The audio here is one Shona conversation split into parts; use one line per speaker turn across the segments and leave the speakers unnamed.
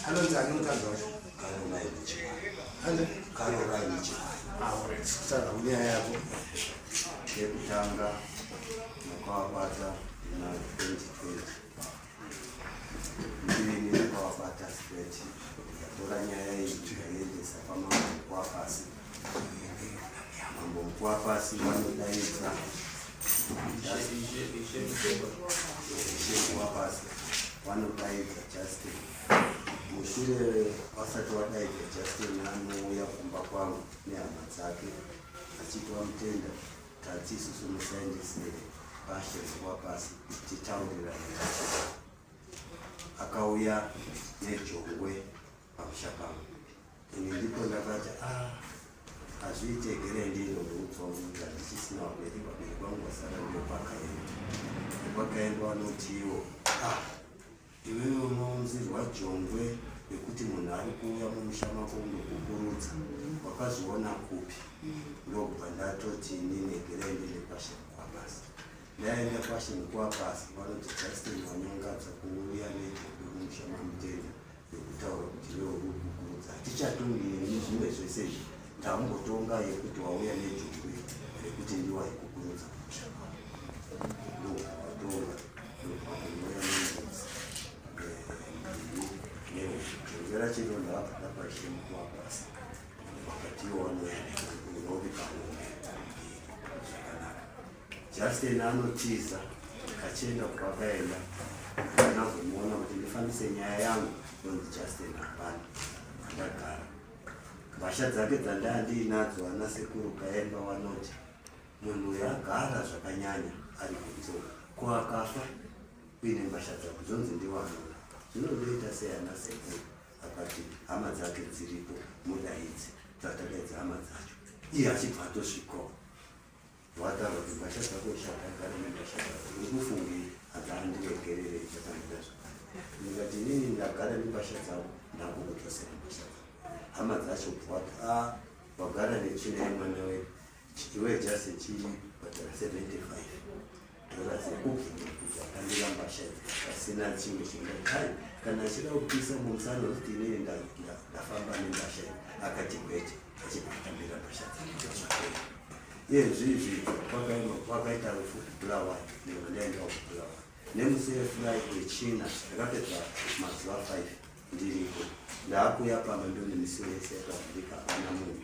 anonzi
anotanga
kutaura
kunyaya yako
yekutanga makawabata na 2020 ndini makawabata straight ndatora nyaya iyi ndikaendesa pamamukwa pasi vanodaidza justin mushure vasati vadaidza justin anouya kumba kwangu nehama dzake achiti vamutenda tati isusu musaendese bashe rekuva pasi titaurirana akauya nejongwe pamusha pangu ini ndipo ndakati a ah, hazviite gere ndino neupfa unoita ndichisina waberi paberi kwangu vasara uyo kwakaenda kwakaenda vanotiwo a ah, iwewe unounzirwa jongwe nekuti munhu ari kuuya mumusha mako unokukurudza wakazviona kupi ndokubva ndatoti ini negere ndine kwashe kwabasa ndaenda kwashe nekuwapasi vanoti justin wanyongadza kuuya nejongwe mumusha mamutenda yekutaura kuti iwe uri kukukurudza hatichatongi nezvimwe zvese izvi tangotonga yekuti wauya nejongwe rekuti ndiwa yekukurudza ndokuvatonga ndokuvatongoya nengozi neuzvera chino ndaakada paishe mukuwa basa vakatiwo vanoya nekuti unovi kaombe zvakanaka Justin anotiza achienda kwakaenda ndinazomuona kuti ndifambise nyaya yangu nonzi Justin hapana ndagara mhasha dzake dzandaa ndiinadzo ana sekuru kaemba wanoti munhu uyo agara zvakanyanya ari kunzo ko akafa uine mhasha dzako dzonzi ndiwanona zvinodoita sei ana sekuru akati hama dzake dziripo mudaidzi dzatakaidza hama dzacho iye achibva atosvikawo Wadaro dzimbatya dzako chata gari mendashata ndikufungi agari ndiregerere chataita zvakare ndikati inini ndagara nembasha dzavo ndakukudzosera mbasha dzavo hama dzacho bwati a ah, wagara nechina yemwana wedu iwe jasi chii bhadhara 75 Tora zekuti akandira mbasha pasina chimwe chingakai kana achida kupisa mumsa anozoti inini ndafamba nembasha iyi akati kwete achibva atambira mbasha dzake iyezvizvi kwakaita rufu bulawa ndinga ndaendawo kubulawa nemusefulai kwechina ndakapedza mazuva five ndiriko ndaakuya pamba ndone misi wese yakavhurika hapana munhu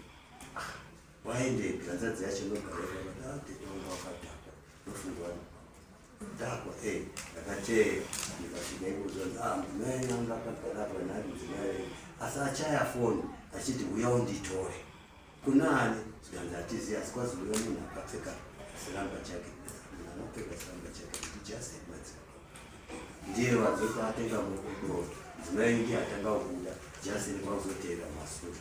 Waendega hanzvadzi yacho ndogaeatetonga wakadhakwa ndofunga dhakwa e eh, ndakateya ndikasvika ikuzonzi a ah, mudzimai yangu akagarakwa nani mudzimai asi achaya foni achiti uya unditore kuna ani zvikanzi hatizi asi kwazi uya munhu akapfeka siramba chake munhu anopfeka siramba chake kuti just madziva ndiye vazoto atenga mukudo mudzimai ndiye atanga kubuda just kwakuzoteera masura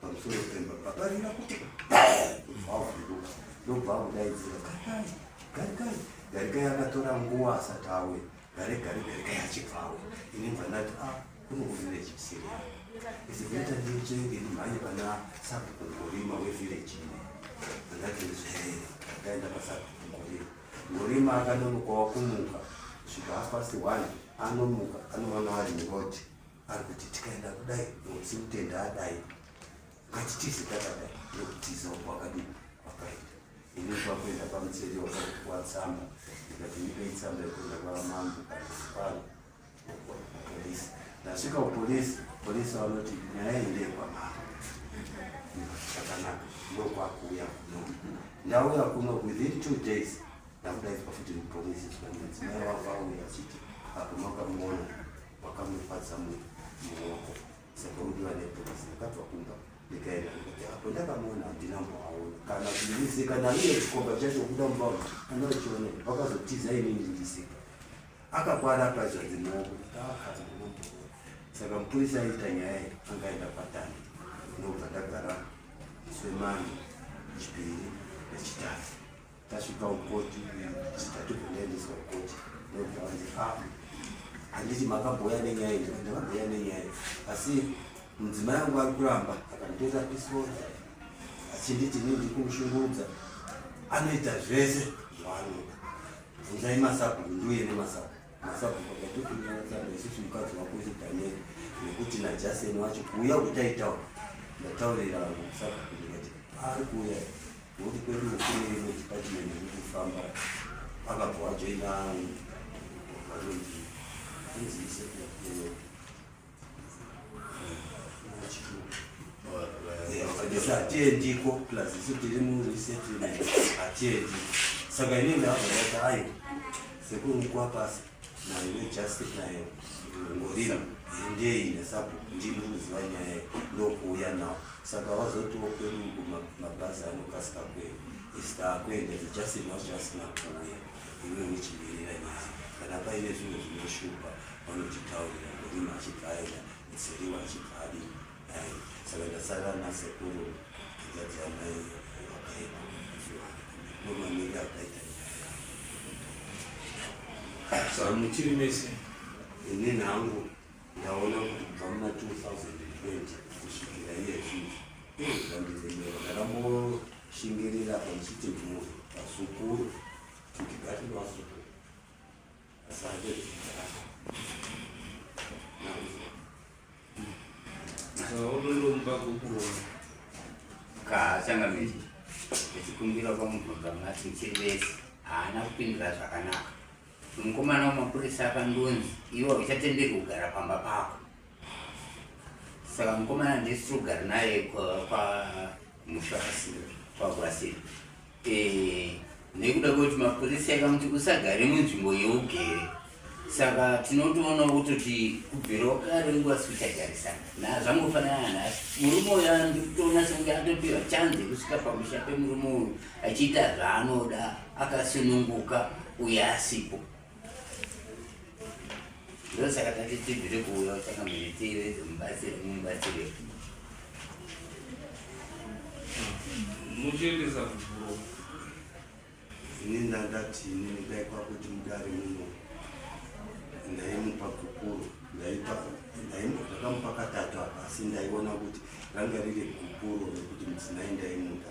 pamusoro pemba paparira kuti vavhunduka ndobva kudaidzira garikai garikai garikai akatora nguva asati awe gare gare garikai achibva awe ini bva ndati a ah, kunokuvira chipsiri izikuita ndichenge ndimhanye pana sabhuku ngorima wevhireji ine andati zvaere akaenda pasabhuku ngorima ngorima akanonokawa kumuka svika hapasi one anomuka anowana ari muroji ari kuti tikaenda kudai usi kutenda adai ngatitize takadai ndokutiza uko wakadini wakaita ini kwakuenda pamuseri wakakuti kwatsamba ndikati ndipe itsamba yekuenda kwamambo kanipano polisi ndasvika kupolisi polisi vanoti nyaya iyi ndeyekwamambo chakanaka ndokwakuuya kuno ndauya kuno within two days ndakudaizwa futi mupolisi zvikanzi mudzimai wavo auya achiti akumakamuona wakamufadza muoko saka udiwa nepolisi ndakabva kumba ndikaenda kuti apo ndakamuona handina mboaona kana kundisika naiye chikomba chacho kuda mubao kana uchione vakazotiza inini ndisika akakwara pazvanzi maoko saka mupurisa aita nyaya iyi angaenda patani ndobva ndagara semani chipiri nechitatu tasvika kukoti chitatu kunaendeswa kukoti ndobva vanzi a ah, handiti makabhoya nenyaya ii ndakabhoya nenyaya ii asi mudzimai yangu ari kuramba akanditora pisoza achinditi ini ndiri kumushungurudza anoita zvese zvaanoda bvunzai masabu nduye nemasabu Sabhuku ndatokunyara sabhuku isusu mukadzi wako isi Daniel nekuti naJason wacho kuuya kutaitawo ndataurira vanhu sabhuku ndikati ari kuuya ngokuti kwedu kune imwe department iri kufamba akabva wajoina vanonzi anzi isekuyapiyeo hatiendiko plus isu tiri muresettlement hatiendi saka ini ndavhonati ayo sekuru mukuwa pasi nayo nejustic nayo ngorima endei nesabu ndini unoziva nyaya ndokuuya nawo saka wazotiwo kwedu mabhazi anokasika kwedu isita akuenda zijustic nawo justic nakuuya iwe uchimirira nyaya kana paine zvimwe zvinoshupa vanotitaurira murima achibva aenda mutsiriwa achibva adi dai saka ndasara nasekuru kugadzira mai vakaipa nomamiri akaita
sa muchiri mese ini
nhangu ndaona kuti kubva muna 2020 kusvikira iye zvii izvandizemero ndakamboshingirira pamuchiti mhuri vasukuru kuti gati vasukuru
kaachangamiri echikumbira kwamubvunza mati chirivesi haana kupindira zvakanaka mukomana wemapurisa akandonzi iwe uchatenderwa kugara pamba pako saka mukomana ndisiri kugara naye kwamusha kwagwasira eh, nekuda kwekuti mapurisi akamuti usagare munzvimbo yeugere saka tinotoonawo kutoti kubvirawo kare nguva sikuchagarisana nazvangofanana nhasi murume uyo anditoona sekunge atopiwa chanzi yekusvika pamusha pemurume uyu achiita zvaanoda akasununguka uye asipo ndosaka tati tibvire kuuya kutsvaka muitire dzomubatsire mumubatsire
muchiendesa kuvuro
ini ndandati ini ndai kwakuti mudare muno ndaimupa gupuro ndaipa ndakamupa katatu apa asi ndaiona kuti ranga riri gupuro rekuti mudzimai ndaimuda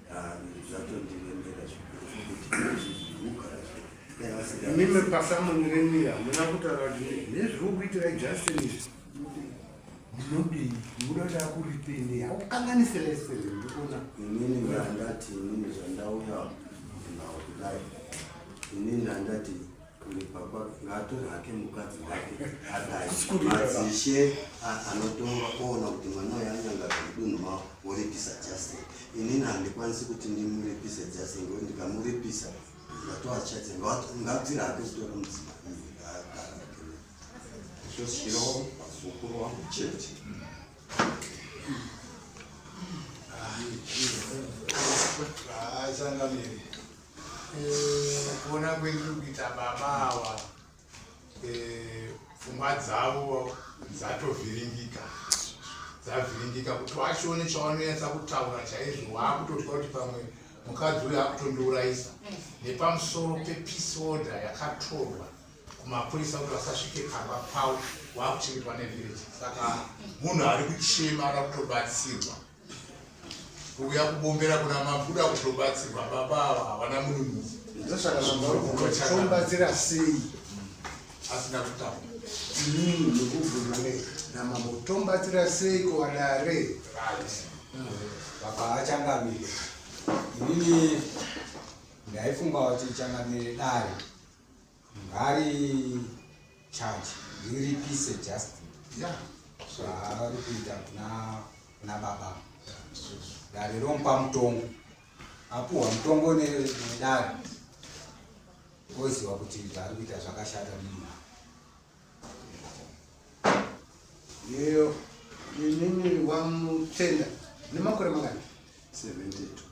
mime pasamoni renyu hamuna kutaura kuti nezviri kuitira justin izvi munodii munoda kuti akuripini haukanganise lese ndikuona inini ndandati
inini zvandauya nawo kudai inini ndandati Baba ngaatore hake mukadzi wake adai madzishe anotonga oona kuti mwana uyu anyangaza mudunhu mavo woripisa Justin. Inini handikwanisi kuti ndimuripise Justin ngekuti ndikamuripisa ndatoa chadze ngabvire hake kutora mudzimai zvosirowo vazukuru wangu chete
haichangamiri kuona kwendiri kuita baba awa eh, pfungwa dzavo dzatovhiringika dzavhiringika kuti washone chawanonetsa kutaura chaizvo waakutotya kuti pamwe mukadzi uyo akutondiurayisa nepamusoro pepeace order yakatorwa kumapurisa kuti vasasvike pamba pavo wakuchengetwa nevillage saka munhu ari kuchema ara kutobatsirwa kuuya kubombera kuna makuda kutobatsirwa baba ava havana mununhuzi
ndoshakaombatsira sei asina
kutamba inini
ndokubvuma ne namambo tombatsira sei kuwadare
baba achangamire inini ndaifunga kuti changamire dare Ngari charge riripise just yeah. so, zvaari kuita kuna kuna baba dare romupa mutongo apuhwa mutongo nedare oziva kuti zvaari kuita zvakashata munhu
yeyo inini wamutenda nemakore makani 72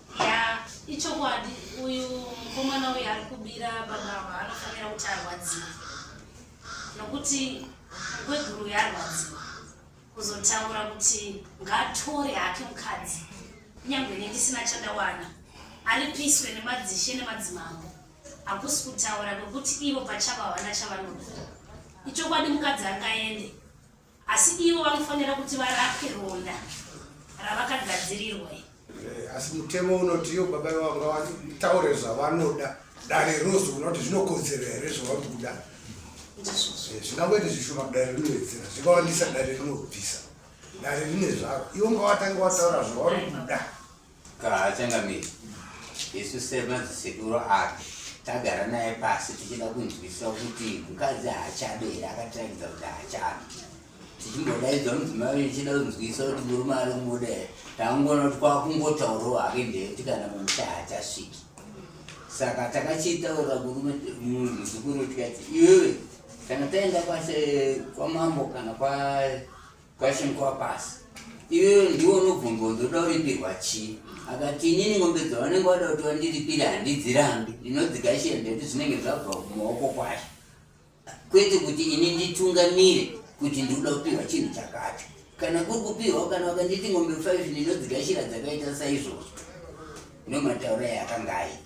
ichokwadi uyu mukomana uyu ari kubira baba ava anofanira kuti arwadziwa nokuti kweguru yarwadziwa kuzotaura kuti ngatore hake mukadzi kunyange ne ndisina chandawana aripiswe nemadzishe nemadzimambo hakusi kutaura kwekuti ivo pachavo havana chavanoda ichokwadi mukadzi angaende Asi ivo vanofanira kuti varapwe ronda ravakagadzirirwa. Eh,
asi mutemo unoti iyo baba vanga vataure zvavanoda dare rozi unoti zvinokodzera here zvavari kuda eh, zvingangoita zvishoma dare rinowedzera zvingawandisa dare rinobvisa dare rine zvaro ivo ngavatange vataura zvavari kuda Haachangamiri
isu semadzisekuru ake tagara naye pasi tichida kunzwisisa kuti mukadzi haachabe here akatirakidza kuti haachabe tichimbodaidzwa mudzimai ichida kunzwisisa kuti murume ari kumuda here tangoona kuti kwakungotaurawo hake ndeyekuti kana mumusha haachasviki saka takachitaura kurume muzukuru tikati iwewe kana taenda kwamambo kana kwa Question kwa pasi. Iwe ndiwe unobvunza ndoda kuripirwa chii? Akati inini ng'ombe dzavanenge vada kuti vandiripire handidzirambi. Ndinodzikashira ndati zvinenge zvabva mumaoko kwacho. Kwete kuti ini nditungamire kuti ndikuda kupihwa chinhu chakacho. Kana kuri kupihwa kana vakanditi ng'ombe 5 ndinodzikashira dzakaita saizvozvo. Ndomataura yakanga aita.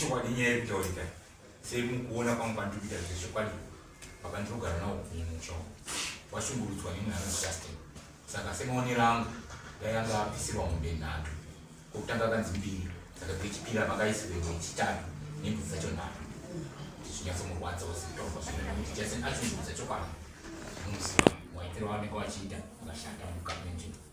chokwadi nyaya yekutaurika sei mukuona kwangu pandikuita zvechokwadi apa ndinogara nawo kumusha washungurudzwa nemwe anozitasten saka semaonero angu dai anga apisirwa mombe nhatu kokutanga kanzi mbiri saka dzechipiri apa kaisirwewo chitatu nembudzi dzacho nhatu ndizvinyatsomurwadza wazitofa zvinondichaseni achunguruza chokwadi anomusiwa waitiro wanenge wachiita akashanda mukapenzvimbo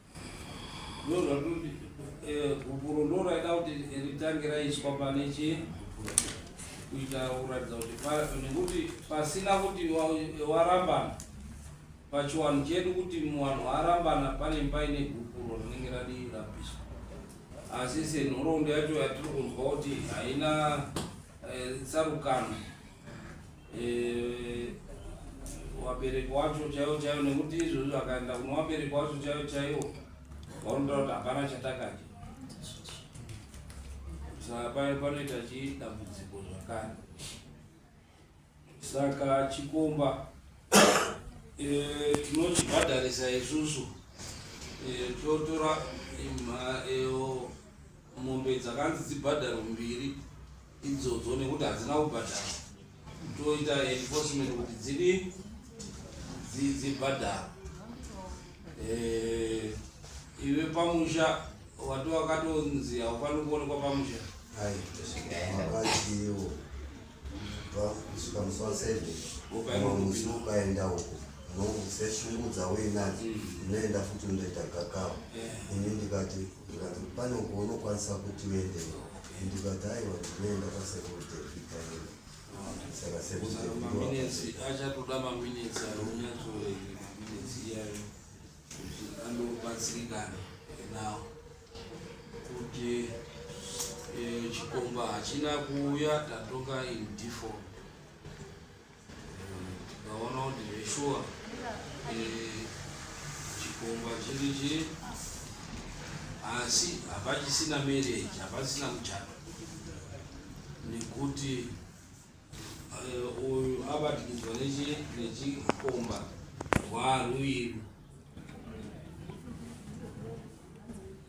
gupuro ndo raida kuti ritange raiswa pane chii kuita kuratidza kuti nekuti pasina kuti warambana pachiwanhu chedu kuti muwanhu warambana pane paine gupuro rinenge radi rapiswa asi senhoroondo yacho yatiri kunzwa kuti haina eh, tsarukano eh, wabereki wacho chaiwo chaiwo nekuti izvozvo akaenda kuno wabereki wacho chaiwo chaiwo vaunota kuti hapana chatakaja saka paye panoita chidambudziko zvakare saka chikomba eh, tinochibhadharisa isusu eh, totora mombe dzakanzi dzibhadharo mbiri idzodzo nekuti hadzina kubhadhara toita enforcement kuti dzidi dzibhadhara eh, iwe pamusha wati wakatonzi haufani kuonekwa pamusha aiiwo
kusvika musi wa seven musi ukaenda uko unoseshungudza uinadzo unoenda futi unoita gakava ini ndikati ndikati pane uko unokwanisa kuti uende ndikati aiwa ndinoenda kwasekuru devita ino saka
sekuru devita
achatoda
maminitsi
anonyatsoe
maminitsi iyayo kuti andobatsirikana nawo kuti eh, chikomba hachina kuuya tatoka in default Ndaona kuti zveshuwa eh, chikomba chiri chii asi hapachisina marriage hapasina kuchata nekuti eh, uyu abatikidzwa nechikomba rwarwiru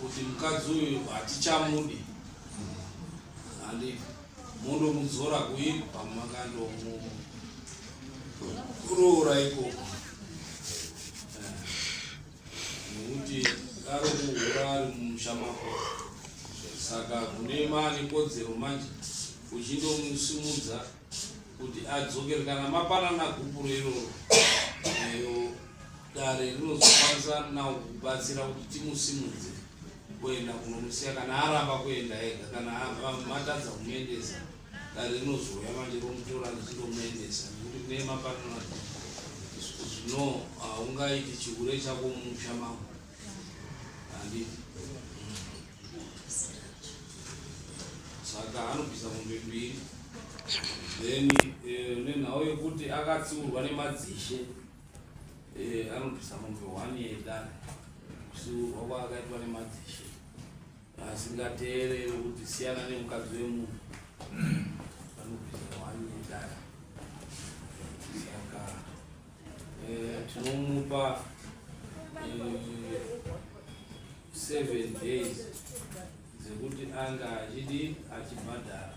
kuti mukadzi uyu hatichamudi handi mondomudzora kuyi pamumakandomuroora ikoko eh, nekuti ari kuhura ari mumusha mako saka kune mane kodzero manje uchindomusimudza kuti adzokere kana mapanana gupuro iroro dare rinozokwanisa now kubatsira kuti timusimudze kuenda kunomusiya kana aramba kuenda ega kana matadza kumuendesa dare rinozouya manje romutora richindomuendesa nekuti kune mapanona zvino haungaiti uh, chihure chako mumusha mako handiti saka anobvisa mombe mbiri then eh, nenhau yekuti akatsiurwa nemadzishe Eh, anobvisa mombe one yedare kusiurwa kwaakaitwa nemadzishe asingateereri kuti siyana nemukadzi wemunhu anobvisa one yedare saka eh, tinomupa eh, seven days dzekuti anga achidi achibhadhara